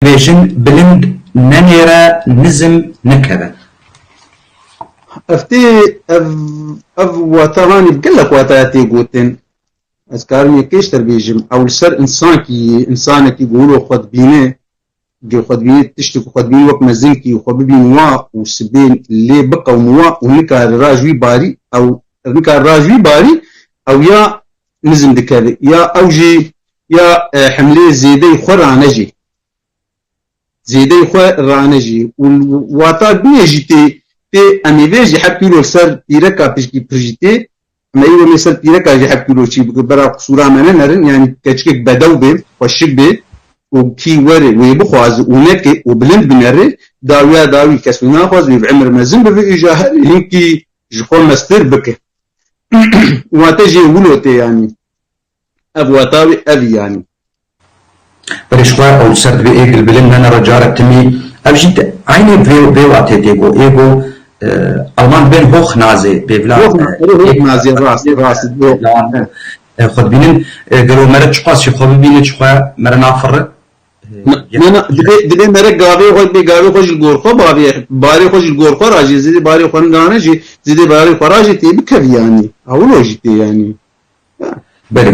Dibêjin bilind nenêre nizm nekeve. Ev tê ev ev wata hanî bi gelek wata ya tê gotin. Ez karim yekêştir bêjim. Ew li ser însankî yî, însanekî ku wilo xwe dibîne, gê xwe dibîne tiştê ku xwe dibîne wek mezinkî xwe bibîn wa û sibên lê biqewim wa û nikare raj wî barî ew nikare raj wî barî ew ya nizm dikeve ya ew jî ya himlê zêdeyî xwe ranejî zêdeyî xwe ranejî û wata bînê jî tê tê emê vê jî hep pîrol ser pîreka pişkî pir jî tê ema îro mê ser pîreka jî hep pîrol çî bike bera qisûra me ne nerin yanî keçikek bedew bê xweşik bê û kî were wê bixwaze û neke û bilind binere dawiya dawî kes wî naxwaze wê bi imr mezin bibe îja herî hinkî ji xwe meztir bike. Wate jê wilo tê yanî. Ev wata wê ev yanî. Birêşxwer ew li ser divê ê gilbilin nene re care timî ev jî ti eynê vê vê watê tê got ê got Alman bên hoch nazê bêvla Hoch na erê hoch nazê rast rast bo xwe dibînin gelo mere çiqas jî xwe bibîne çi xwe mere nafirre. Na, na, dibê, dibê mere gavê xwe, dibê gavê xwe ji li gor xwe bavê, barê xwe ji li gor xwe ra jî, zêdê barê xwe nigane jî, zêdê barê xwe ra jî tê bikevî yanî. A wilo jî tê yanî. Belê.